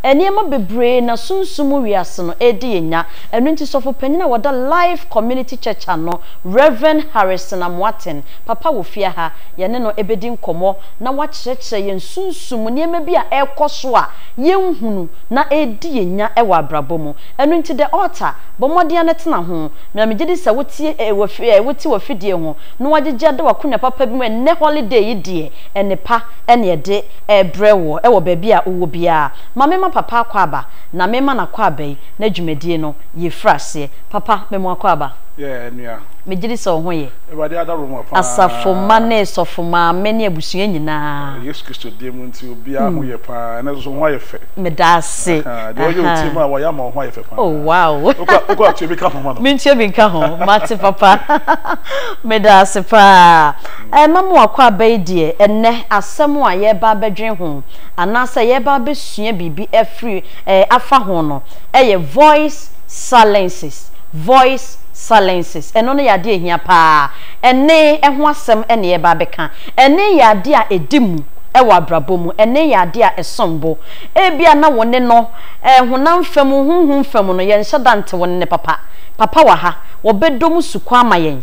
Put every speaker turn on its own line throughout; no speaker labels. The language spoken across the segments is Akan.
Nneɛma bebree na sunsum mu wiase no redi yɛn nya. Ɛno nti sɔfo panyin a ɔda Life Community Church ano, Rev. Harrison Amoaten, papa wɔ fie ha, yɛne no bedi nkɔmmɔ na wakyerɛkyerɛ yɛn sunsum mu nneɛma bi a ɛrekɔ so a yenhunu na ɛredi yɛn nya wɔ abrabɔ mu. Ɛno nti The Altar, bɔ mmɔden ara tena ho, na migye di sɛ wotie wote w'afidie ho na woagyegye ada w'akonnwa papa bi mu. Ɛnnɛ holiday yi deɛ, nnepa na ɛde rebrɛ woɔ wɔ baabi a wowɔ biara. Ma memma papa akwaaba na memma n'akwaaba yi n'adwumadie no yɛ firi aseɛ. Papa, me mo akwaaba. Yeah, nua.
Megye di sɛ wo ho ye.
Awurade adaworo mma paa.
Asafo mma ne
sɔfo maame ne abusua nyinaa. Wɔ Yesu Kristo din mu
nti, obiara ho yɛ paa. Ɛnnɛ nso, wo ho ayɛ fɛ. Meda ase. Ahaa,
deɛ ɔyɛ wo
tirim a, wayɛ ama wo ho ayɛ fɛ paa. Oh, wow. Wokɔ, wokɔ
atua bi ka
ho ma no. Mentua bi nka ho.
Mate, papa. Meda ase paa. Ɛma mo akwaaba yi deɛ, ɛnnɛ, asɛm a yɛreba abɛdwene ho, anaasɛ yɛreba abɛsua biribi afiri, ɛɛ, afa ho no, yɛ voice silences, voice silences. Ɛno no yɛ adeɛ a ɛhia pa ara. Ɛnne ho asɛm na yɛreba abɛka. Ɛnne yɛ adeɛ a ɛdi mu wɔ abrabɔ mu. Ɛnne yɛ adeɛ a ɛsom bo. Ebia na wo ne no, ɛɛ, honam fam, honhom fam no, yɛnhyɛ da nte wo nne papa. Papa wɔ ha. Ɔbɛdɔ mu sukɔ ama yɛn.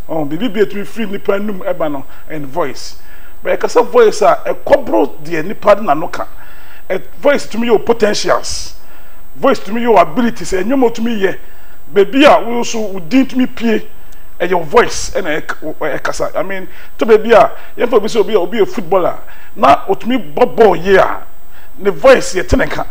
Ɔho biribi bi a ɛtumi firi nnipa anum ba no en voice but ɛkasa voice a ɛkɔboro deɛ nnipa de n'ano ka ɛ voice tumi yɛ wo potentials voice tumi yɛ wo abilities ɛnwom a wotumi yɛ baabi a wo nso wo din tumi pue ɛyɛ wo voice ɛna ɛk wo ɛkasa I mean to baabi a yɛmfa obi sɛ obi a obi yɛ footballer a na otumi bɔ bɔɔl yie a ne voice yɛte ne nka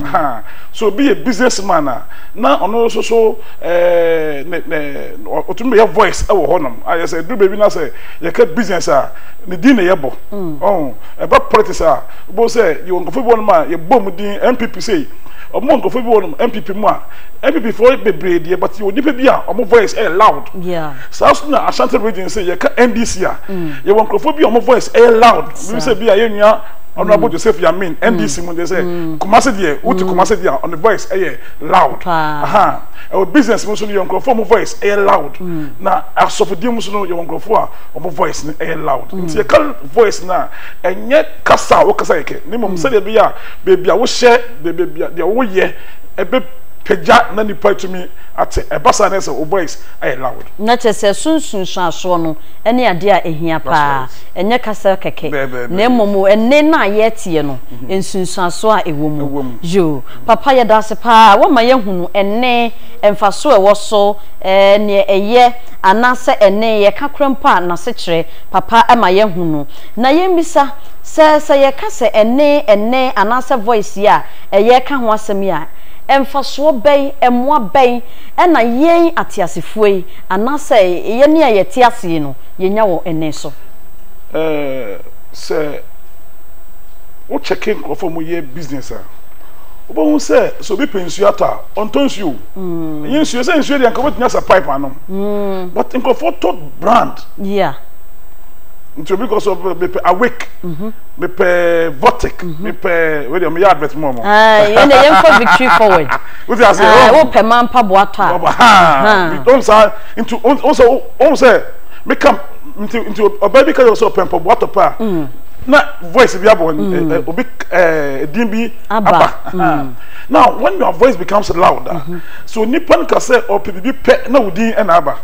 ahaa so obi yɛ business man a na ɔno nso so ne ne ɔtumi bɛyɛ voice ɛwɔ hɔ nom ayɛ sɛ duru baabi na sɛ yɛka business a ne din na yɛbɔ mm. ɔn ɛba politics a bɔ sɛ yɛwɔ nkurɔfoɔ bi wɔ nom a yɛbɔ mu din npp sei ɔmo wɔ nkurɔfoɔ bi wɔ nom npp mu a npp foɔ bebree deɛ but yɛwɔ nipa bi a ɔmo voice ɛyɛ loud saa so
na ashanti
region sɛ yɛka ndc a mm. yɛwɔ nkurɔfoɔ bi a ɔmo voice ɛyɛ loud bi sɛ bi a yɛnua ɔno abo mm. joseph yamin ndc mu deɛ sɛ kumase deɛ wote kumase deɛ a ɔno voice ɛyɛ loud aha ɛwɔ business mu so no yɛ nkurɔfoɔ ɔmo voice ɛyɛ loud na asɔfodie mu so no yɛwɔ nkurɔfoɔ a ɔmo voice no ɛyɛ loud nti yɛka voice no a ɛnyɛ kasa a wokasa kɛkɛ ne mmom sɛdeɛ ɛbɛyɛ a baabi a wohyɛ baabi a deɛ woyɛ ɛbɛpagya na nnipa atumi ate ɛba saa na ɛsɛ sɛ wo voice ayɛ loud. na kyerɛ sɛ so
nsunsuansoɔ no ɛne adeɛ a ɛhia paa ɛnyɛ kasa kɛkɛ na mmom ɛnne no a yɛteɛ no nsunsuansoɔ a ɛwɔ mu yoo. Papa yɛda ase paa woama yɛahunu ɛnne, mfaso a ɛwɔ so, neɛ ɛyɛ anaasɛ ɛnne yɛka korɛ mpo a nasekyerɛ. Papa ma yɛahunu. Na yɛmmisa sɛ sɛ yɛka sɛ ɛnne, ɛnne anaasɛ voice yi a ɛyɛreka ho asɛm yi a, mfasoɔ bɛn, mmoa bɛn na yɛn ateasefoɔ yi anaasɛ yɛne a yɛte ase yi no yɛnya wɔ ɛnne so? Ɛɛ, sɛ
wo kyɛke nkorɔfoɔ a wɔyɛ business a. wobɛhu sɛ sɛ obi pɛ nsuo atɔ a ɔntɔ nsuo ɛnyɛ nsuo sɛ nsuo deɛ nka wobɛtumi asɛ pipe anom mm. but nkurɔfoɔ tɔ brand yeah. nti obi kɔ so mepɛ awake mhm. mepɛ votic mhm. mepɛ wei deɛ meyɛ advert mu ɔmɔ yɛne yɛnkɔ
victory forward wote ase
wopɛ ma mpaboa
tɔ a
ɔm saa nti ɔm sɛ meka nti ɔbaa bi ka sɛ ɔpɛ mpaboa tɔ pɛ a na voice bi abɔ mm. eh, eh, obi eh, din bi aba mm. now when your voice becomes loud ah, mm-hmm. so nipa no ka sɛ ɔpɛ biribi pɛ na wo din ɛna aba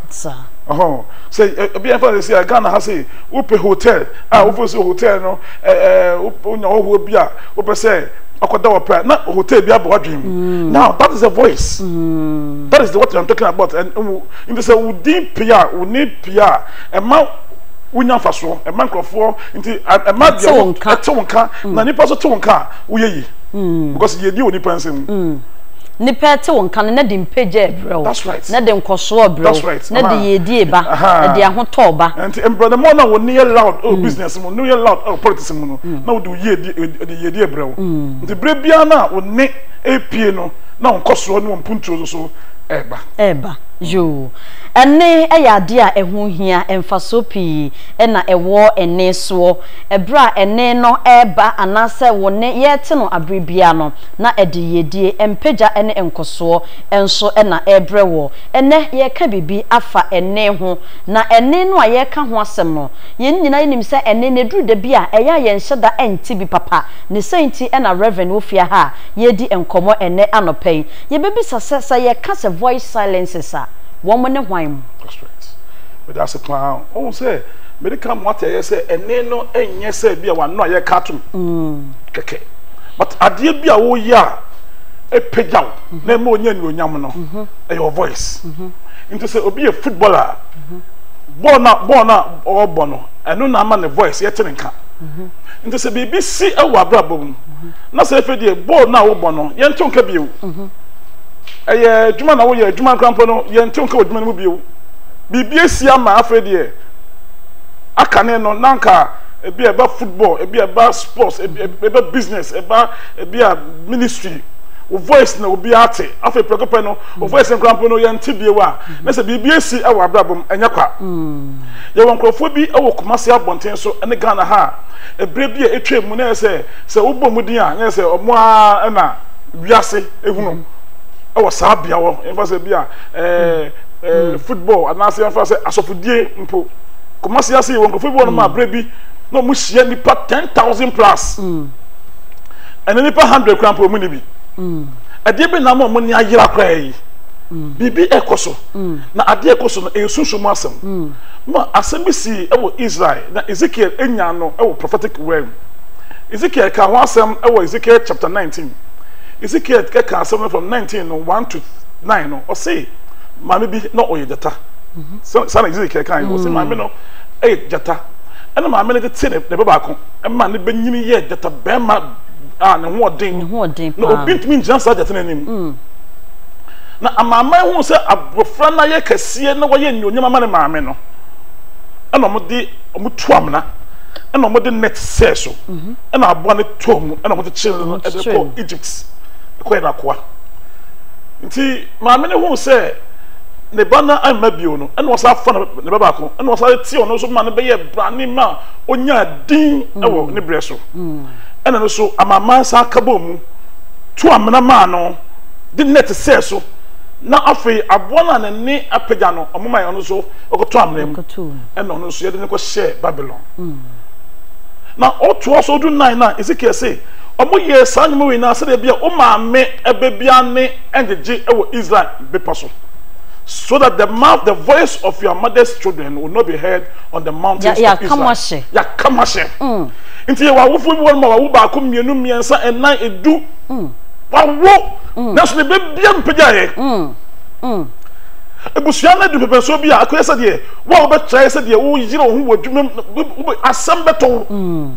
ɔhɔn sɛ ebi ɛnfa de sɛ ghana ha sɛ wopɛ hotel a ah, mm-hmm. wofɛ sɛ hotel no ɛɛ wonya ɔhoɔ bi a wopɛ sɛ akɔda wɔ pɛ na hotel bi abɔ wadwin mu mm. now that is the voice mm. that is the what i'm talking about and n sɛ wo din pia wo ne pia ɛma wonya nfa soɔ ɛma nkurɔfoɔ. nti ɛma deɛ wo ɛte wo nka mm. na nipa so te wo nka a woyɛ yi mm. because yɛdi wɔ nipa nsɛm mm. nipa
ɛte wo nka no na de mpagya ɛbrɛ wo na de nkɔsoɔ
brɛ
wo na de yɛdi eba na de ahotɔ ɔba nti mbrɛdɛ mɔ na wo
ne yɛ loud ɛwɔ oh, business mu ne yɛ loud ɛwɔ oh, politics mu no na wo de yɛdi ɛbrɛ wo nti berɛ biara no a wo ne ɛpie no na wo nkɔsoɔ ne wɔn mpuntuo nso ɛba ɛba
yoo ɛne ɛyɛ adeɛ a ɛho hia mfasoɔ pii na ɛwɔ ɛnne soɔ, ɛberɛ a ɛnne no reba anaasɛ wo nne yɛrete no aberɛ biara no, na ɛde yiedie, mpagya ne nkɔsoɔ nso na ɛrebrɛ woɔ. Ɛnnɛ yɛreka biribi afa ɛnne ho, na ɛnne no a yɛreka ho asɛm no, yɛn nyinaa yɛnim sɛ ɛnne no ɛduru da bi a ɛyɛ a yɛnhyɛ da nte bi papa. Ne sɛn nti na Rev. Wofie aha a yɛredi nkɔmmɔ ɛnnɛ anɔpa yi, yɛbɛbisa sɛ, sɛ yɛka sɛ voice silences a, wɔn ne hwan mu?
Meda ase paa. Wohu sɛ mede ka mo ateaeɛ sɛ ɛnne no nyɛ sɛ bi a w'ano a yɛka atom kɛkɛ. But adeɛ bi a woyɛ a ɛpagya wo na ɛma wonya anuonyam no, ɛyɛ wo voice. Nti sɛ obi yɛ footballer a, bɔɔl no a bɔɔl no a ɔrebɔ no, ɛno na ama ne voice yɛte ne nka. Nti sɛ biribi si wɔ w'abrabɔ mu na sɛ afei deɛ bɔɔl no a wobɔ no, yɛnte wo nka bio. Ɛyɛ adwuma na woyɛ, adwuma koraa mpo no, yɛnte wo nka wɔ adwuma no mu bio. biribi asi ama afei deɛ akane no na nka ebi a ɛba football ebi a ɛba sports ebi ɛba business ɛba ebi a ministry o voice na obi ate afei prɛko pɛ no o voice nkura mpo no yɛn ti bie wa na sɛ biribi asi ɛwɔ abrabom ɛnyɛ kwa yɛwɔ nkurɔfoɔ bi ɛwɔ kumasi abɔnten so ɛne ghana ha ebire bi a etwa mu na yɛ sɛ sɛ wobɔ mu din a na yɛ sɛ ɔmo a ɛna wiase ehunu ɛwɔ saa bea hɔ nfa sɛ bi a ɛɛ. eh, football anaasɛ yɛmfa sɛ asɔfodie mpo kɔmase ase yɛwɔ nkurɔfoɔ bi wɔ nom a berɛ bi na ɔmo hyia nipa ten thousand plus ɛne nipa hundred kora mpo ɔmo ni bi ɛdeɛ bɛ na ama ɔmo ni ayera koraa yi biribi ɛkɔ so na adeɛ ɛkɔ so no ɛyɛ sunsun mu asɛm ma asɛm bi si ɛwɔ israel na ezekiel enya no ɛwɔ prophetic word mu ezekiel ka ho asɛm ɛwɔ ezekiel chapter nineteen ezekiel ɛka asɛm no from nineteen no one to nine no ɔse maame bi na ɔyɛ gyata sɛ saa na ezekiel kan ɔse maame no ɛyɛ gyata ɛna maame no de te ne ba baako ɛma ne bɛnyini yɛ gyata bɛrima a ne ho ɔden na obi ntumi ngyina saa gyata no anim mm. na amaaman hu sɛ abɔfra no ayɛ kɛseɛ na wɔyɛ nnuonyam ama ne maame no ɛna wɔde wɔtu amena ɛna wɔde net sɛɛ so mhm. ɛna aboa no tɔɔ mu ɛna wɔde kyerɛ no ɛde kɔ egypt ɛkɔyɛ no akoa Nti maame no huu sɛ ne ba no amma bio no, ɛna ɔsan fa ne ba baako, ɛna ɔsan de tee ɔno nso ma no bɛyɛɛ brane ma ɔnyaa din wɔ ne berɛ so. Ɛna no so amanaman san ka bɔɔ mu, tu amena maa no, de nɛt sɛɛ so, na afei aboa no a n'ani apagya no, wɔmae ɔno nso kɔtɔɔ amena mu, ɛna ɔno nso yɛde no kɔhyɛɛ Babilon. Na ɔtoa so du nnan no a, Hesekiel se, Wɔyɛɛ saa nneɛma wei nyinaa sɛdeɛ ɛbɛyɛ wo maame ba biara nne ngyegye wɔ Israel bepɔ so, so that the mouth, the voice of your mother's children will not be heard on the mountains of Israel. Yɛaka mo ahyɛ. Yɛaka mo ahyɛ. Mm. Nti yɛwɔ awofoɔ bi wɔnom a wawo baako, mmienu, mmiɛnsa, nnan, edu. Mm. Wawo. Mm. Nanso ne ba biara mpagya yɛ. Mm. Mm. Ebusua no adu pɛpɛnsoɔ bi a akɔyɛ sɛdeɛ wo a wobɛtrae sɛdeɛ woyere wo ho wɔ adwuma mu asɛm bɛtɔ wo. Mm.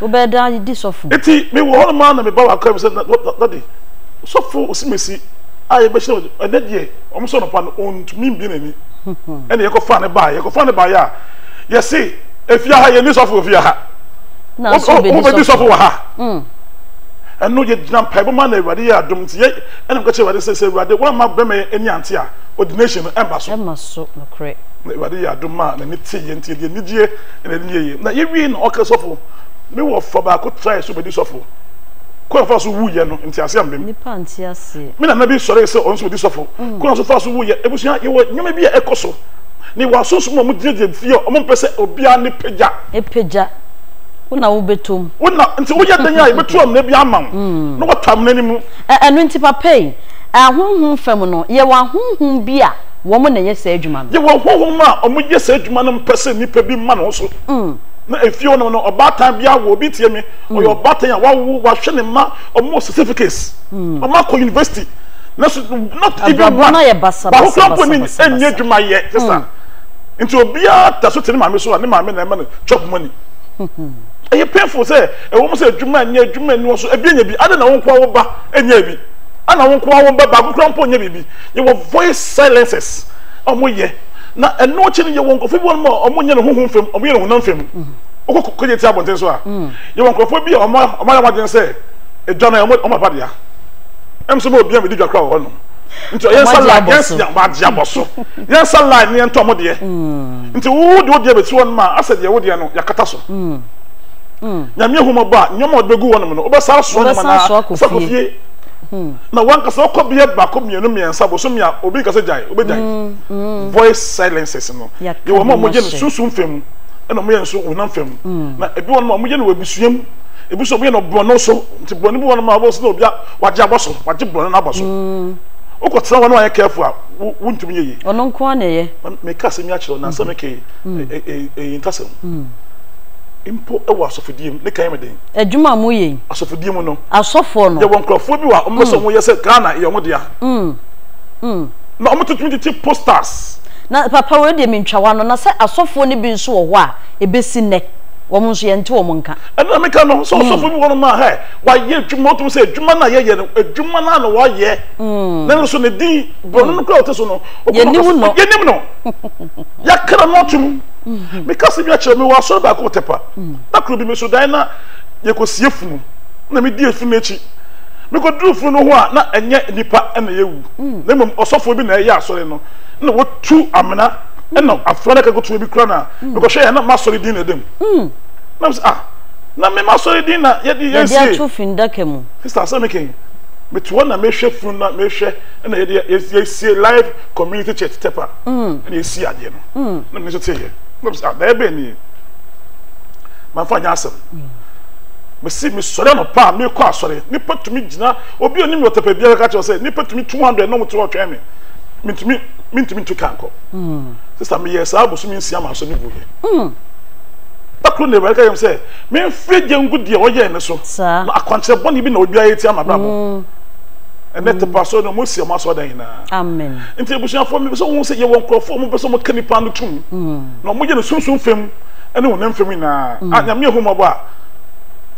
Wobɛda
adi sɔfo. Enti mewɔ hɔnom ara
na meba w'akaa mu sɛ, Na, na, Dade, Sɔfo Osimesi a yɛbɛhyira no, ɛnnɛ deɛ, wɔn sɛ anɔpa no, ɔntumi mmue n'ani. Ɛnna yɛkɔfaa no baeɛ. Yɛkɔfaa no baeɛ a, yɛse, Efie ha, yɛnni sɔfo wɔ efie ha. Wɔbɛdi sɔfo wɔ ha. Ɛnno, yɛgyinaa mpaebɔ mu ara na Awurade yɛɛ adom nti, yɛ, ɛnna meka kyerɛɛ Awurade sɛ, Sɛ Awurade woamma barima yi ani ante a, ordination no, ɛmma so. Ɛmma so, nokorɛ. Na
Awurade yɛɛ adom
maa n'ani teeɛ nti, yɛde anigyeɛ. Ɛna ɛde yɛ yie. Na yɛwiee no, ɔkaa sɔfo, Me wɔfa baako trae sɛ ɔbɛdi sɔfo. Kwan a ɔfaa so wuiɛ no, nteaseɛ amma mu. Nnipa nte aseɛ.
Me nana bi sɔree sɛ
ɔno nso ɔdi sɔfo. Kwan a ɔfaa so wuiɛ. Abusua, yɛwɔ nneɛma bi a ɛkɔ so. Na yɛwɔ asonsom a wɔgyinagyina fie a wɔmpɛ sɛ obiara ne pagya. Pagya. Wo na wobɛtɔ mu. Wo na. Nti woyɛ dɛn a yɛbɛto amena bi ama wo, na woatɔ amena no mu? Ɛno nti, papa
yi, ahonhom fam no, yɛwɔ ahonhom bi a. wɔn na ɛyɛ saa adwuma no. Yɛwɔ honhom a
wɔyɛ saa adwuma no mpɛ sɛ nnipa bi ma no so. Na efie hɔnom no, ɔbaatan bi awo obi, tie me, ɔyɛ ɔbaatan a wawo, wahwɛ ne mma, wɔwɔ certificates, wɔakɔ university, nanso not even one, Abrabɔ no ayɛ basa baako basa koraa mpo basa
nni basa
nni basa. adwuma yɛ, sista. Nti obiara da so te ne maame so a, ne maame na ɛma no chop money. Ɛyɛ painful sɛ ɛwɔ mu sɛ adwuma nyɛ, adwuma nni hɔ, so ebi anya bi, adɛn na wo nko ara wo ba nyɛɛ bi? Ana wo nko ara wo ba baako koraa mpo nyɛ biribi? Yɛwɔ voice silencers a wɔyɛ na ɛno akyi no yɛwɔ nkurɔfoɔ bi wɔnom a wɔnyɛ no honhom fam, wɔyɛ no honam fam. Wokɔ kɔgye ti abɔnten so a, yɛwɔ nkurɔfoɔ bi a wɔn ayɛ wɔn adwene sɛ edwa no yɛ wɔn aba dea. Ɛm sɛ wɔn obi a wɔdi dwa koraa wɔ hɔnom. Nti yɛn nsa line, yɛn nsa wɔn agye abɔ so. Yɛn nsa line no yɛntɔ wɔn deɛ. Nti wo de wo deɛ bɛsi hɔnom a, asɛ deɛ wo deɛ no yɛakata so. Nyame ahu mmɔbɔ a, nneɛma a wɔde bɛgu hɔnom no, wobɛsan asoa nneɛma no ara, wobɛsan akɔ fie. Hmm. na wankasa ɔkɔ bia baako mmienu mmiɛnsa bosomi a obi nkasa gyae obɛgyae mm, mm. voice silences no yɛwɔ ma ɔmɔyɛ no sunsum fam ɛna ɔmɔyɛ nso honam fam mm. na ebi wɔn ma ɔmɔyɛ no wɔ abusua mu ebi nso ɔmɔyɛ no borɔno so nti borɔno bi wɔn ma ɔbɔ so na obi a wagye abɔ so wagye borɔno no abɔ so wokɔ tena hɔ na wayɛ kɛɛfo a wontumi yɛ yi ɔno nko ara na ɛyɛ
meka asɛm yi akyerɛ
na asɛm kɛyi ɛyi nkasɛm mpo ɛwɔ asɔfodie mu ne kan yɛ me den Adwuma a moyɛ yi.
Asɔfodie mu no.
Asɔfoɔ no. Yɛwɔ nkurɔfoɔ
bi wɔ a wɔn bɛ
sɛ wɔn yɛ sɛ Ghana yɛ wɔn dea. Mm. Mm. Na wɔn tutumi tete posters. Na papa wei
deɛ mentwa wa no na sɛ asɔfoɔ no bi nso wɔ hɔ a ebesi nnɛ wɔn nso yɛnte wɔn nka. Ɛno na meka no sɛ
ɔsɔfoɔ bi wɔ nom a hɛ wayɛ adwuma wɔtumi sɛ adwuma no a yɛyɛ no adwuma no a na wɔyɛ. Mm. Na nso ne din bɔnno no kura ɔte so no. Yɛnim no. Yɛnim
no.
Yɛakra no atum. Meka sɛ bi akyerɛ me wɔ asɔre baako wɔ Tɛpa. Da koro bi, meso dae na yɛkɔsie funu, ɛnna medii afunu no akyi. Mekɔduruu funu no ho a, na ɛnyɛ nnipa na yɛawu, na mmom ɔsɔfoɔ bi na ɛreyɛ asɔre no, ɛnna watu amena, ɛnna afra no aka kutuo bi kura no a, mekɔhwɛeɛ a, na m'asɔre din na ɛda mu. Na mese, Ah, na me m'asɔre din na yɛde yɛn sie. Yɛde ato fundaka mu.
Sista, asɛm no kɛn.
Mete hɔ na mehwɛ funu no na mehwɛ, ɛnna yɛde yɛasie Life Community Church Tɛpa, ɛnna yɛasii adeɛ no, na me nso teeɛ. Na mese, Ah, daeɛ bɛn nie? mamfa nyɛ asɛm mesi mesɔre anɔpa a mekɔ asɔre nipa tumi gyina obi a onim me ɔtɛpɛ biara ka kyerɛ sɛ nipa tumi 200 na ɔmo ti hɔ twɛn me mentumi mentumi ntu kan kɔ mm. sista meyɛ saa bosomi nsia ma asɔ ne gu yɛ mm. dakoro na awurade ka yɛm sɛ memfiri gye ngu deɛ ɔyɛɛ me so na akwankyerɛ bɔne bi na obiara yɛ tia ma brabɔ mm. ɛnɛ tepa asɔre no mosi ɔmo asɔre dan nyinaa nti
abusuafoɔ mepɛ
sɛ wohu sɛ yɛwɔ nkurɔfoɔ ɔmo pɛ sɛ ɔmo ka nipa no tum Na ɔmo gye no sunsum fam ne honam fam nyinaa. Ah Nyame yɛ hu mmɔbɔ a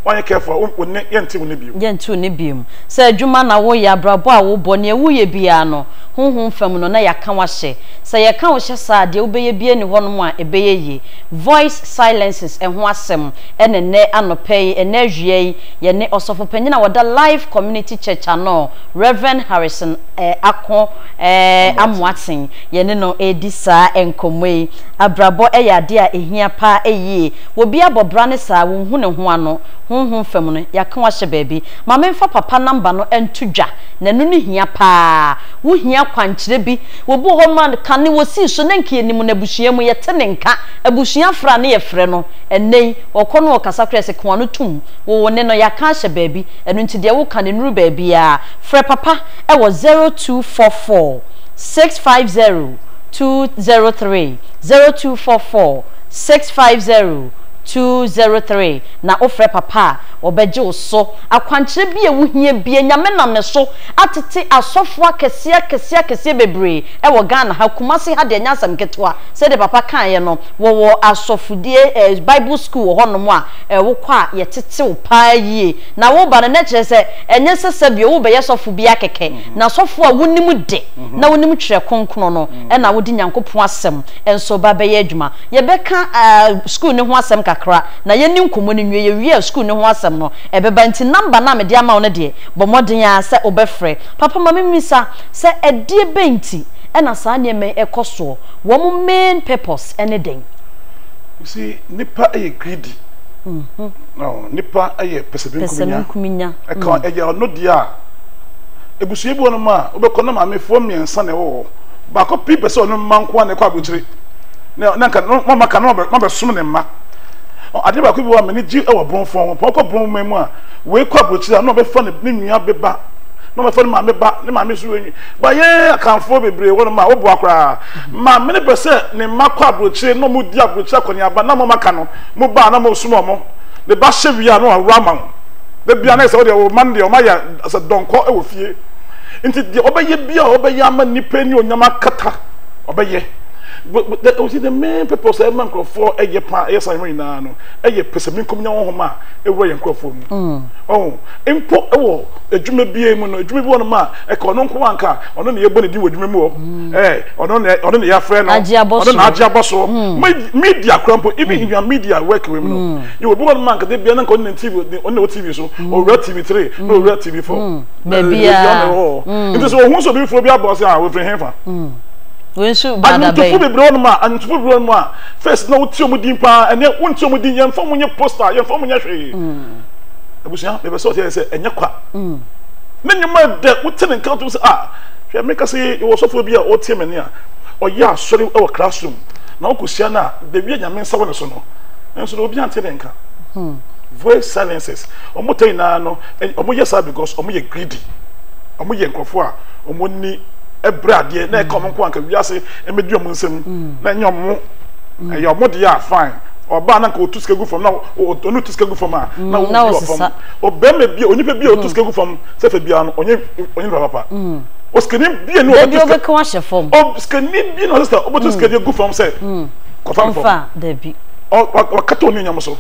wanyɛ careful a wo nne yɛ nte wo nne bio. Yɛ nte wo nne bio.
Sɛ adwuma na wo yɛ, abrabɔ a wo bɔ, nea wo yɛ biara no, honhom fam no na yɛ aka wo ahyɛ. Sɛ yɛ ka wo hyɛ saa a, deɛ wo bɛyɛ biara nni hɔ nom a ɛbɛyɛ yie. Voice silences ɛho asɛm ɛna ɛnɛ anɔpa yi, ɛnɛ awia yi, yɛ ne Ɔsɔfo panyin a ɔda Life Community Church ano, Rev Harrison eh Ako eh Amoatsen. Yɛne no redi saa nkɔmmɔ yi. Abrabɔ yɛ adeɛ a ɛhia paa yie. Wɔ bi abɔ bra ne saa, wonhu ne ho ano. Honhom fam no, yɛaka wo ahyɛ baabi. Ma memfa papa namba no nto dwa, na ɛno no hia paa. Wohia akwankyerɛ bi. Wɔ bi wɔ hɔ ma kane wɔsii so na nka yɛnim no abusua mu, yɛte ne nka. Abusua afra ne yɛfrɛ no. Ɛnnɛ yi, ɔkɔ no ɔkasa koraa yɛse ka w'ano tom. Wo wo ne no, yɛaka ahyɛ baabi. Ɛno nti deɛ woka no nnuru baabiara. Frɛ papa wɔ zero two four four. six five zero two zero three zero two four four six five zero two zero three na wofrɛ papa a ɔbɛgye wo so akwankyerɛ bi a ɛwo hia bia nyame nam me so atete asɔfoɔ akɛseɛ akɛseɛ akɛseɛ bebree ɛwɔ Ghana ha Kumasi ha deɛ nyɛ asɛm ketewa sɛdeɛ papa kaeɛ no wɔwɔ asɔfodie eh, bible school wɔ hɔ nom a eh, wokɔ a yɛtete wo paa yie na woba no na kyerɛ sɛ ɛnyɛ sɛ sɛbio wobɛyɛ sɔfo bia kɛkɛ N'asɔfo a wonim de na wonim Twerɛ Kronkron no na wode Nyankopɔn Asɛm nso ba bɛyɛ adwuma. Yɛbɛka sukuu no ho asɛm kakra na yɛne nkɔmmɔ no nwie. Yɛwie a sukuu no ho asɛm no ɛbɛba. Nti nɔmba no a mede ama wo no deɛ, bɔ mmɔden ara sɛ wobɛfrɛ. Papa, ma memmisa sɛ ɛdeɛ bɛn nti na saa nneɛma yi kɔ soɔ? Wɔn main purpose ne dɛn? You see,
nnipa yɛ greedy. Nnipa yɛ pɛsɛmenkominya. Ɛka ɛyɛ ɔno deɛ a. Abusua bi wɔ hɔnom a wobɛkɔ na maamefoɔ mmiɛnsa na ɛwɔ hɔ. Baako pi pɛ sɛ ɔne mma nko ara na ɛkɔ aburokyire. Na na nka na mama ka na mabɛsom ne mma. Adeɛ baako bi wɔ a m'ani gye wɔ aborɔfoɔ ho. Pɔn kɔ borɔn man mu a, wei kɔ aburokyire a na ɔbɛfa ne ne nua bɛba. Na ɔbɛfa ne maame ba, ne maame nso wei. Ba yɛn Akanfoɔ bebree wɔ hɔnom a woboa koraa. Maame no pɛ sɛ ne mma kɔ aburokyire na wɔdi aburokyire akɔneaba na mama ka no, moba a na mosom wɔn. Ne ba hyɛ wie a na waworo ama wo. da bia na sɛ ɔde ɔwɔ ma no deɛ ɔmayɛ sɛ dɔnkɔ wɔ fie nti deɛ ɔbɛyɛ bia ɔbɛyɛ ama nipa ni onyama akata ɔbɛyɛ ɔsi the main purpose a ɛma nkurɔfoɔ ɛyɛ pa ɛyɛ san ho nyinaa no ɛyɛ pɛsɛminkom nya honhom a ɛwura yɛ nkurɔfoɔ mu mm. ɔho mpo ɛwɔ adwuma bia mu no adwuma bi wɔ no ma ɛka ɔno nko anka ɔno na yɛbɔ ne din wɔ adwuma mu hɔ mm. ɛɛ ɔno na ɔno na yɛafrɛ no ɔno na agye abɔ so mm. media kora mpo even in your media work wɔ mu no Yɛ obi hɔ nom a nka da bia na nka ɔne ne TV ɔne na ɛwɔ TV so mm. ɔwura TV three na mm. ɔwura TV four mm. baabi a ɔne wɔ hɔ mm. nti sɛ ohun sɛ obi foforɔ bi abɔ ɔsɛ a wɔfiri hɛn fa. wensu
baada bɛyi anyintofo bebree wɔn mu
a anyintofo bebree wɔn mu a first na wotie wɔn din paa ɛnɛ wontie wɔn din yɛn fɔm wɔn nyɛ poster yɛn fɔm wɔn nyɛ hwee abusua bɛbɛ sɛ ɔte yɛ sɛ ɛnyɛ kwa ne nyɛma dɛ wote ne nkan to sɛ a hwɛ mi kasi wɔ sɔfo bi a ɔtie mɛ ni a ɔyɛ asɔre wɔ classroom na ɔkɔ hyia na beebi a nyame nsa wɔ ne so no. nso na obi ante ne nka hmm. voice silences wɔn tɛ nyinaa no wɔn yɛ saa because wɔn yɛ greedy wɔn yɛ nkurɔfoɔ a wɔn ni ɛbrɛ adeɛ na ɛka wɔn nko anka wiase ɛmɛdi wɔn nsam hmm. na ɛnyɛ wɔn hmm. ɛyɛ wɔn deɛ a fine ɔbaa na nka otu sika gu fam na ɔno tu sika gu fam a na obi wɔ fam ɔbɛrima bi onipa bi a otu sika gu fam sɛfɛ biara no ɔnyɛ ɔnyɛ nipa papa osikani bi a ni ɔbɛtu sika
ɔsikani bi na
ɔsesa ɔbɛtu sika gu fam sɛ. kɔfa no fam dabi
wakata ɔne
onyam so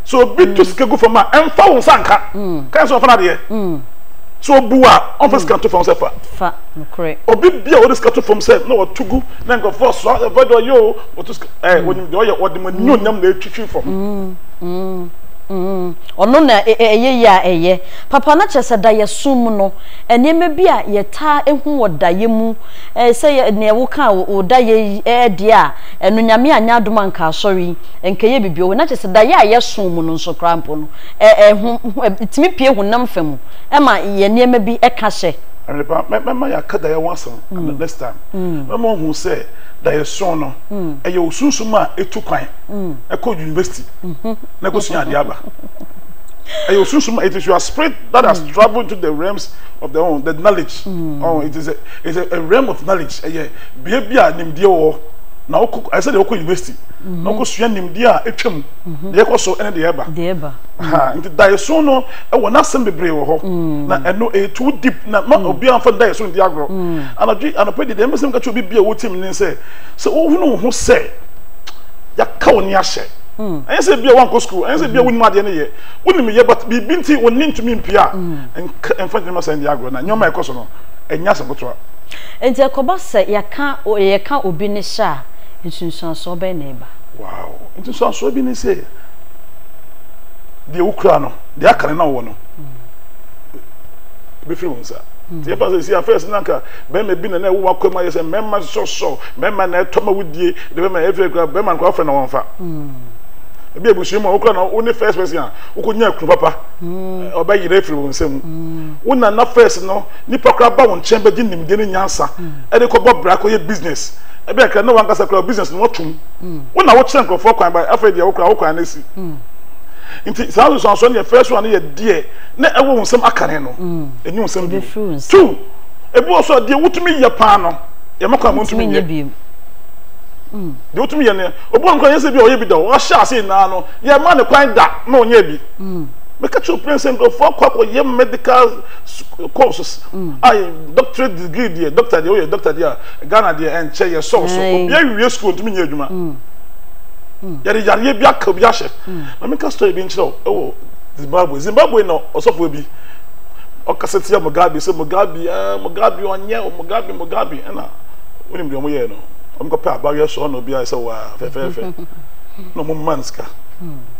so obi to sika gu fam a ɛmfa wo nsa nka kan so ɔfa n'adeɛ so obu a ɔmfa sika to fam sɛ fa fa nokorɛ
obi bi a wɔde sika to
fam sɛ na wɔto gu na nkurɔfoɔ so ɛfɛ deɛ ɔyɛ o wɔto sika ɛɛ wɔnim deɛ ɔyɛ wɔde ma ne onyam na ɛtwitwi fam
ɔno na ɛyɛ yɛ a ɛyɛ papa na kyerɛ sɛ da yɛ som mu no nneɛma bi a yɛtaa ehu wɔ da yɛ mu Eh, sɛ yɛ neɛ wo ka a wo da yɛ yi eh deɛ a, ɛno Nyame anyɛ adom anka asɔre yi nkɛ yɛ biribi wɔ, na kyerɛ sɛ da yɛ a yɛ soo mu no nso koraa mpo no eh eh ho ho eh tumi pue honam fa mu ma yɛ nneɛma bi eh ka hyɛ. Ɛne paa, mɛ mɛma yɛ
aka da yɛ ho asɛm ne next time, mɛma wo hu sɛ da yɛ soo no ɛyɛ wo sunsum a etu kwan ɛkɔ university na ɛkɔ sua adeɛ aba, ɛyɛ wo sunsum, it is your spirit that has travelled into the realms of the ho the knowledge. Oh, it is a, it is a realm of knowledge. Ɛyɛ bea bi a nimdeɛ wɔ hɔ. Na wokɔ, ɛyɛ sɛ deɛ wokɔ university. Mm-hmm. Na wokɔsua nimdeɛ a ɛtwa mu. Mm-hmm. Deɛ ɛkɔ so ɛne deɛ ɛba. Deɛ ɛba. Ha, mm. nti daeɛso no ɛwɔ n'asɛm bebree wɔ hɔ. Mm. Na ɛno ɛyɛ too deep na ma mm. obiara mfa daeɛso no di agorɔ. Mm. Anadwo anɔpɛ deɛ deɛ mbɛsɛm ka kyerɛ obi bi a wotie me ne sɛ sɛ wohunu wo ho sɛ yɛaka wo ne ahyɛ. Mm. Ɛnyɛ sɛ bi a wankɔ sukuu, ɛnyɛ sɛ bi a mm-hmm. wonim adeɛ no yɛ. Wonim yɛ but biribi nti wo ne ntumi mpia. Mm. nka mfa nneɛma saa nni agorɔ na nneɛma a ɛkɔ so no nyɛ asɛm ketewa. Enti ɛkɔba
sɛ yɛka yɛka obi ne hyɛ a, nsunsuansoɔ bɛn na ɛba? Wow!
Nsunsuansoɔ bi ne sɛ, deɛ wokura no, deɛ aka no na wowɔ no, ɛbɛfiri wo nsa. Nti yɛfa sɛ si afɛs na nka bɛrima bi na na ɛwɔ w'akwan mu ayɛ sɛ mmarima sɔsɔ, mmarima na ɛtɔ ma wodie, de bɛrima ɛfɛ kura bɛrima no kora wofrɛ na wɔmfa. Ebi abusua mu a wokura na wo ne first person a wokɔnya kunu papa. ɔbɛyera afiri wo nsa mu wo nana first no nipa koraa ba wo nkyɛn bɛgye nimdeɛ ne nyansa ɛde kɔbɔ bra kɔyɛ business ɛbɛn kra na wankasa kora business no watum wo na wokyerɛ nkurɔfoɔ kwan ba afei deɛ wo koraa wo kwan no asi nti saa nsusuansoɔ no yɛ first one yɛ deɛ na ɛwɔ wo nsɛm akane no ɛnyɛ wo nsɛm bio two ebi wɔ so a deɛ wotumi yɛ paa no yɛma kwan montumi nyɛ bio deɛ wotumi yɛ no obi wɔ no kora yɛ sɛ bi a ɔyɛ bi da o ɔhyɛ ase nyinaa no yɛma ne kwan da na ɔnyɛ bi Meka kyerɛ wo prɛnsa nkurɔfoɔ akɔ akɔyɛ medical courses a doctorate degree deɛ doctor deɛ woyɛ doctor deɛ a Ghana deɛ ɛnkyɛ yɛ sɔɔ so obi awie school ntumi nyɛ adwuma yɛde yareɛ bi aka obi ahyɛ ma meka story bi nkyerɛ wo ɛwɔ Zimbabwe Zimbabwe na ɔsɔfoɔ bi ɔkasa tia Mugabe sɛ Mugabe ah Mugabe ɔnyɛ Mugabe Mugabe ɛna wonim deɛ ɔmo yɛɛ no ɔmo kɔpɛ abayewa sɔɔ na obi ayɛ sɛ waa fɛfɛɛfɛ na ɔmo mma no sika.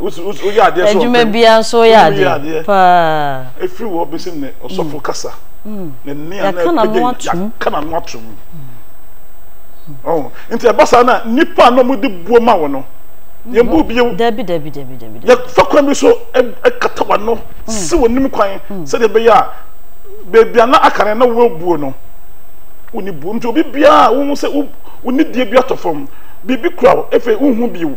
woyɛ adeɛ so adwuma biara nso woyɛ adeɛ
paa ɛfiri wɔ bɛsi
ne ɔsɔfo mm. kasa mm. ne nne a na
ɛpɛgya na no atom
nti ɛba saa na nnipa a na wɔde buo ma wɔ no yɛbu bio dabi dabi dabi dabi
yɛfa
kwan bi so ɛkata wa no si wɔ nim kwan sɛdeɛ ɛbɛyɛ a baabi a na aka no na wɔabuo no wonni buo nti obi biara wohu sɛ wonni die bi atɔ fam biribi kura wo ɛfei wohu bio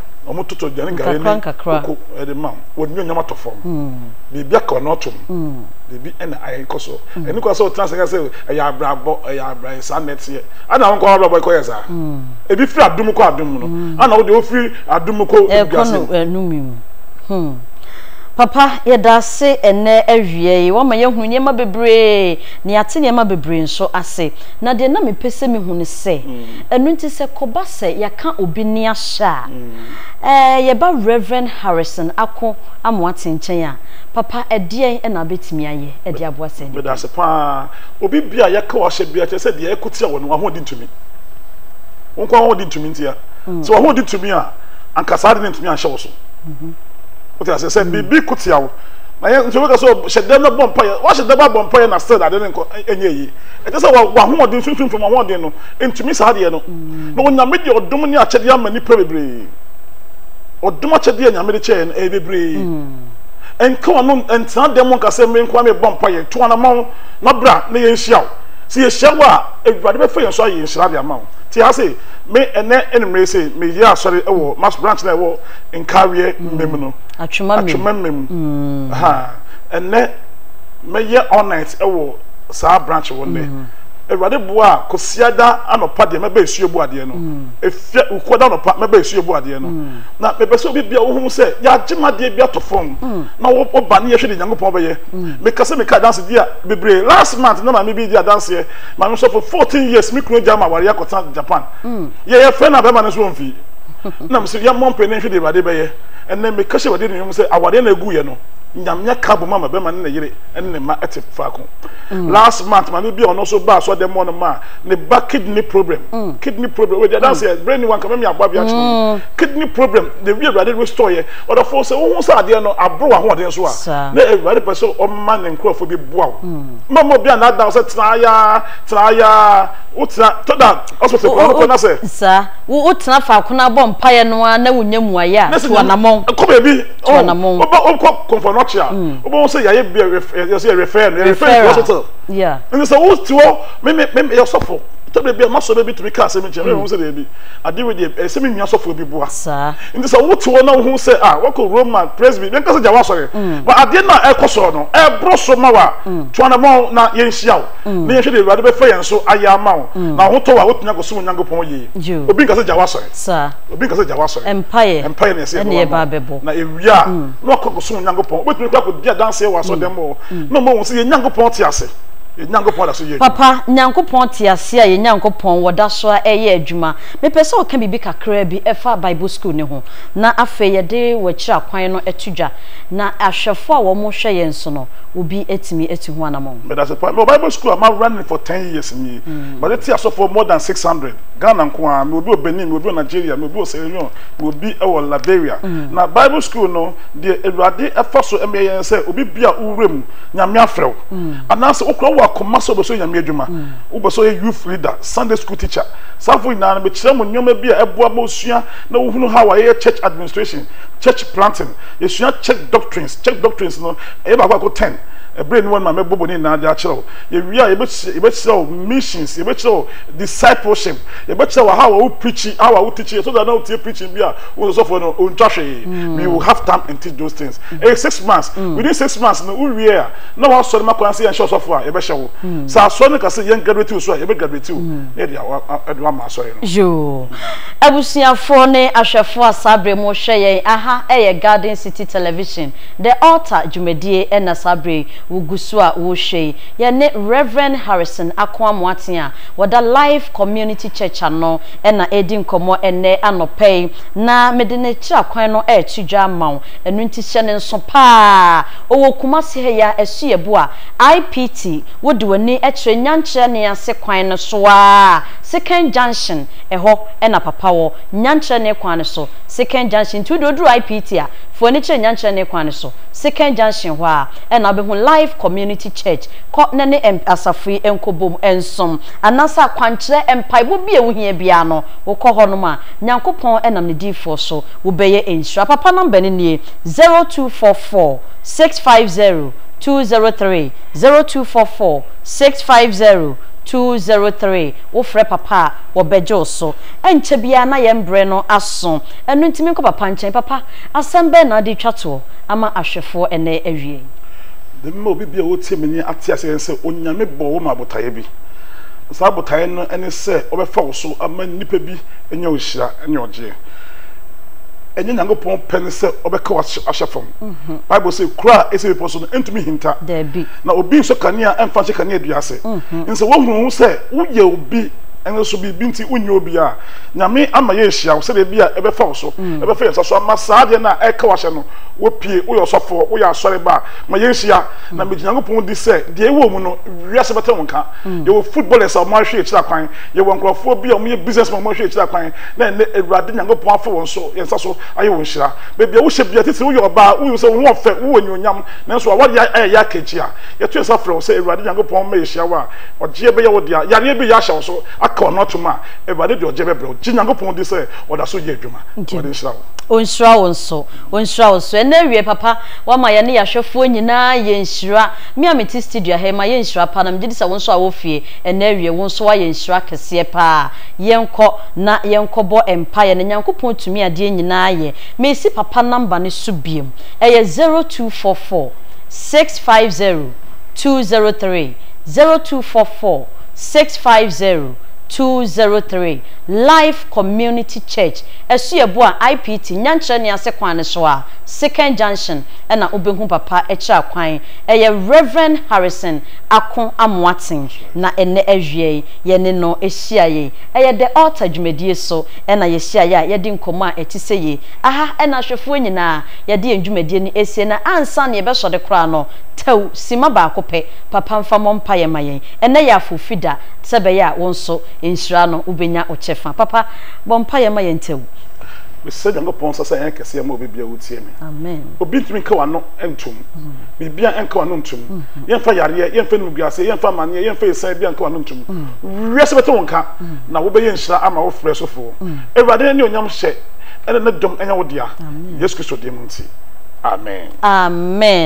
wɔn toto aduane gari ne koko de ma wɔn nyɛ nyama tɔ fam biribi aka wɔn atom biribi na ayɛ nkɔ so ɛne kɔ sɛ ɔtena sɛ sɛ ɛyɛ abrabɔ ɛyɛ abrayɛ saa na ɛteɛ ana wɔn kɔ abrabɔ ɛkɔ yɛ saa ebi firi adum kɔ adum no ana wɔde ofiri adum kɔ eduase mu ɛnum
mu hmm papa yɛda ase ɛnɛ awia yi wɔn ma yɛhunu nneɛma bebree na yɛate nneɛma bebree nso ase na deɛ na mepɛ sɛ mehu ne sɛ ɛnu nti sɛ kɔba Sɛ yɛka obi nne ahyɛ a, ɛɛ yɛba Rev. Harrison Ako Amoatse nkyɛn a, papa ɛdeɛn na wobɛtumi ayɛ de aboa saa nipa yi? Medase paa.
Obi bia yɛka wahyɛ bia kyerɛ sɛ deɛ yɛko tia wɔ no wahoɔden ntumi. Wo nko ara wahoɔden ntumi ntia. Sɛ wahoɔden tumi a, anka saa ade no ntumi anhyɛ wo so. Wote aseɛ? Sɛ biribi ko tia wo, na yɛ nso yɛbɛka sɛ hyɛ dɛm na bɔ mpaeɛ. Wahyɛ dɛm abɔ mpaeɛ na still ade no nkɔ ɛnyɛ yie. Ɛkyerɛ sɛ wahoɔden, sunsum fam ahoɔden no Ɛntumi saa deɛ no. Na Onyame de ɔdom ne akyɛdeɛ ama nnipa bebree. Ɔdom akyɛdeɛ a Nyame de kyɛ yɛn no, ɛyɛ bebree. Ɛnka w'ano ntena dan mu nka sɛ me nko ara merebɔ mpaeɛ. To anamɔn na bra na yɛnhyia wo. Sɛ yɛhyia wo a, Awurade bɛfa yɛn so ayɛ nhyira de ama wo. Te ha sei, me ɛnnɛ anwummerɛ yi sei, meyɛ asɔre wɔ Mass Branch no a ɛwɔ Nkaweɛ Mmem no, Atwema Mmem. Ɛhã, ɛnnɛ mɛyɛ all night wɔ saa branch hɔ nnɛ. Awurade boa a, Kwasiada anɔpa deɛ mɛba esu ebu adeɛ no. Efia Wukuada anɔpa mɛba esu ebu adeɛ no. Na mepɛ sɛ obi bia wohu sɛ yɛagye mu adeɛ bi ato fam na wo woba ne yɛhwɛ deɛ Nyankopɔn bɛyɛ. Meka sɛ meka adanse di a bebree. Last month na maame bi di adanseɛ, maame sɔfo, 14 years me kunu agyae me awareɛ akɔtena Japan. Yɛyɛ fɛ na bɛrima no nso ɔmfi. Na mese yɛmmɔ mpae na yɛnhwɛ deɛ Awurade bɛyɛ. Ɛnnɛ meka hyɛ Awurade anuonyam sɛ awareɛ no a eguiɛ no, Nyame aka abom ama bɛrima ne ne yere ne ne mma te faako. Mm. last month maame bi a ɔno nso ba asɔ dɛm ɔno ma ne ba kidney problem mm. kidney problem wei deɛ mm. dansi yɛ brain ni wanka mɛmi aboa bi akyerɛ mm. kidney problem na ewi awurade restore yɛ ɔdɔfo sɛ ohun sɛ adeɛ no aboro wɔ ahoɔden so a na awurade pɛ sɛ ɔma ne nkorɔfo bi boa o mma mo bi a n'adan sɛ tena aya tena aya o tena tɔda ɔsopɔsɛ kɔn no kɔn na sɛ. saa wo tena
faako na abɔ mpaeɛ no ara na wonya mu ayɛ a to anamɔn. kɔ baabi.
to anamon. Oh, oba
onkɔ kɔnfɔ
n'ɔkye a, oba wɔn sɛ yɛayɛ bi a yɛsɛ yɛ refer no, yɛ refer no to hospital. Yeah. Ɛnna sɛ wo
ti hɔ,
me me me yɛ sɔfo, tɛbili bi a masɔ bɛ bi tumi ka asɛm nkyɛn, me wɔn sɛ dɛ bi, ade wei deɛ ɛsɛ me nua sɔfo bi boa. Saa. Nti sɛ wo
ti hɔ na
wo ho sɛ ah wɔkɔ Roma presby, yɛn kasa gya wasɔre, ba adeɛ na ɛkɔ sɔɔ no, ɛboro so ma wa, to anamɔn na yɛn nhyia wo, na yɛn hwɛ deɛ awurade bɛfa yɛn so ayɛ ama wo, na wo ho tɔ wa, wotumi akɔ som Onyankopɔn yie. Obi nkasa gya wasɔre. Saa. obi nka sɛ gya
w'asɔre
mpaeɛ mpaeɛ
na ɛsɛ yɛ ba
bɛbɔ na ewie
a mm.
na wakɔ kɔ som nyankopɔn wobɛtumi kɔ akɔdi adanseɛ wɔ asɔdɛm hɔ mm. na ɔma wɔn sɛ yɛ nyankopɔn te ase yɛ nyankopɔn da so yɛ adwuma papa nyankopɔn
te ase a yɛ nyankopɔn wɔda so a ɛyɛ adwuma mepɛ sɛ ɔka biribi kakraa bi ɛfa bible school ne ho na afei yɛde wɔakyiri akwan no ɛto dwa na ahwɛfoɔ a wɔn hwɛ yɛn so no obi atumi atu ho anamɔn. meda se pa mewɔ bible
school a mawura ne for ten years nie mm. made te asɔfoɔ more than six hundred Ghana nko ara, mewɔ bi wɔ Benin, mewɔ bi wɔ Nigeria, mewɔ bi wɔ Sierra Leone, mewɔ bi wɔ Liberia. Na Bible School no, deɛ Awurade fa so ma yɛn sɛ obi bi a wo wura mu, Nyame afrɛ wo, anaasɛ wo koraa wɔ akoma sɛ wobɛsɔ Nyame adwuma, wobɛsɛ ɔyɛ youth leader, Sunday school teacher, saa afoɔ nyinaa no, mekyerɛ mo nneɛma bi a ɛboa ma wosua na wohunu how a yɛyɛ church administration, church planting, yɛsua church doctrines, church doctrines no, ɛyɛ baako baako ten. Ɛberɛ nni hɔ no ma mɛbobɔ ne nyinaa de akyerɛ wo. Yɛwie a, yɛbɛkyerɛ wo missions, yɛbɛkyerɛ wo. Discipleship, yɛbɛkyerɛ wo how a wo preaching, how a wo teaching, so that na wotie preaching bi a wo sɛ sɔfoɔ no ɔntwa hwee, we will have time and teach those things. Ɛyɛ six months, within six months no wo wie a, na w'asɔre ma kwan sɛ yɛnhyɛ ɔsɔfoɔ a, yɛbɛhyɛ wo. Sɛ asɔre no ka sɛ yɛn graduate wo so a, yɛbɛ graduate wo, na yɛde a, de wo ama asɔre no. Yoo.
Abusuafoɔ ne ahwɛfoɔ a saa berɛ yi mo hwɛ yɛn, aha yɛ Garden City Television, The Altar dwumadie na saa berɛ yi wo gu so a wo hwɛ yi. Yɛne Rev. Harrison Ako Amoaten a wɔda Life Community Church ano na ɛredi nkɔmmɔ ɛnnɛ anɔpa yi, na mede ne kyerɛ kwan no reto dwa ama wo. Ɛno nti hyɛ no nso pa ara. Ɔwɔ Kumasi ha yi ara, Asuaboa, IPT, wode w'ani kyerɛ Nyankyerɛ ne ase kwan no so ara a, Sekan Junction, ɛhɔ na papa wɔ, Nyankyerɛ ne kwan no so, Sekan Junction. Nti wo deɛ woduru IPT a, fa w'ani kyerɛ Nyankyerɛ ne kwan no so, Sekan Junction hɔ ara. na wobɛhu Life Community Church. Kɔ na ne asafo yi nkɔbom nsom. Anaasɛ akwankyerɛ, mpaebɔ bi a ɛho hia biara no, wokɔ hɔnom a, Nyankopɔn nam Ne diyifoɔ so, wobɛyɛ nhyira. Papa number no nie, zero two four four six five zero two zero three, zero two four four six five zero two zero three. Wofrɛ Papa a, wɔbɛgye wo so. Ɛnkyɛ biara na yɛn berɛ no aso. Ɛno nti menkɔ Papa nkyɛn. Papa, asɛm bɛn na wode retwa toɔ? ama ahwɛfoɔ ɛnnɛ awiei. Mɛma
obi biara a ɔtie me nne ate aseɛ sɛ Onyame bɔɔ wo maa botaeɛ bi, na saa botaeɛ no ne sɛ ɔbɛfa wo so ama nnipa bi anya nhyira ne ɔgyeɛ. Ɛnyɛ Nyankopɔn pɛ ne sɛ ɔbɛka wo ahyɛ fam. Bible se, Kuro a ɛsi bepɔ so no, ɛntumi nhinta, na obi nsɔ kanea mfa nhyɛ kaneadua ase. Enti sɛ wohunu wo ho sɛ woyɛ obi nanso biribi nti wonyɛ obiara a, Nyame ama yɛahyia wo sɛdeɛ bi a ɛbɛfa wo so, ɛbɛfa yɛn nsa so ama saa adeɛ no a ɛreka wo ahyɛ no, wopue, woyɛ ɔsɔfoɔ, woyɛ asɔre ba a, ma yɛnhyia, na megye Nyankopɔn di sɛ deɛ ɛwɔ wo mu no, wiase bɛte wo nka. Yɛwɔ footballers a wɔahwe akyiri akwan, yɛwɔ nkorɔfoɔ bi a wɔyɛ businessmen a wɔahwe akyiri akwan, na ɛnnɛ Awurade Nyankopɔn afa wɔn so, yɛn nsa so, ayɛ wɔn nhyira. Baabi a wohyɛ biara, titire woyɛ ɔbaa, wohu sɛ wo ho ɔfɛ, wowɔ anuonyam, nanso w'awadeɛ ayɛ yɛ akankyi a, yɛto yɛn nsa frɛ wo sɛ Awurade Nyankopɔn mma yɛhyia wo a, Ɔgyeɛ bɛyɛ wo dea. Yareɛ bi reyɛ ahyɛ wo so, aka w'ano atom a, Awurade de ɔgyeɛ bɛbrɛ wo. Gye Nyankopɔn di sɛ ɔda so yɛ adwuma. Awurade nhyira wo. Ɔnhyira wo nso.
Ɔnhyira wo nso. Ɛnnɛ awiɛ papa wama yɛne yɛahwɛfoɔ nyinaa yɛ nhyira. Me a mete studio ha yi mayɛ nhyira paa na megye di sɛ wo nso a wɔ fie ɛnnɛ awiɛ wo nso wayɛ nhyira kɛseɛ paa. Yɛnkɔ na yɛnkɔbɔ mpaeɛ na Nyankopɔn tumi adeɛ nyinaa yɛ. Mesi papa number no so bio. Ɛyɛ zero two four four six five zero two zero three zero two four four six five zero 203, Life Community Church, Asuabu a IPT nya nkyerɛ ne ase kwan no so a, Second Junction na wobɛhu papa kyerɛ kwan. Ɛyɛ Rev. Harrison Ako Amoaten na ɛnnɛ awia yi yɛne no hyiaeɛ. Ɛyɛ The Altar dwumadie so na yɛhyiaeɛ a yɛadi nkɔmmɔ a ɛte sɛ yei. Aha na ahwɛfoɔ nyinaa yɛde yɛn dwumadie no ɛsie na ansa na yɛbɛsɔre koraa no, tɛw simma baako pɛ, papa mfa mmɔ mpaeɛ ma yɛn. Ɛnnɛ yɛ Afofida. Sɛ ɛbɛyɛ a wo nso nhyira no wobɛnya wo kyɛfa. Papa, bɔ mpaeɛ ma yɛn tɛw. Mesrɛ
Nyankopɔn nsa sɛ ɛnyɛ kɛseɛ mma obi biara ɔtie me. Amen. Obi ntumi nka
w'ano
ntom. Biribiara nka w'ano ntom. Yɛmfa yareɛ, yɛmfa animguaseɛ, yɛmfa amaneɛ, yɛmfa asiane biara nka w'ano ntom. Wiase bɛte wo nka, na wobɛyɛ nhyira ama wo frɛ so foɔ. Awurade no animuonyam hyɛ ɛne ne dom nyɛ wo dea. Yesu Kristo din mu
nti,
amen. Amen.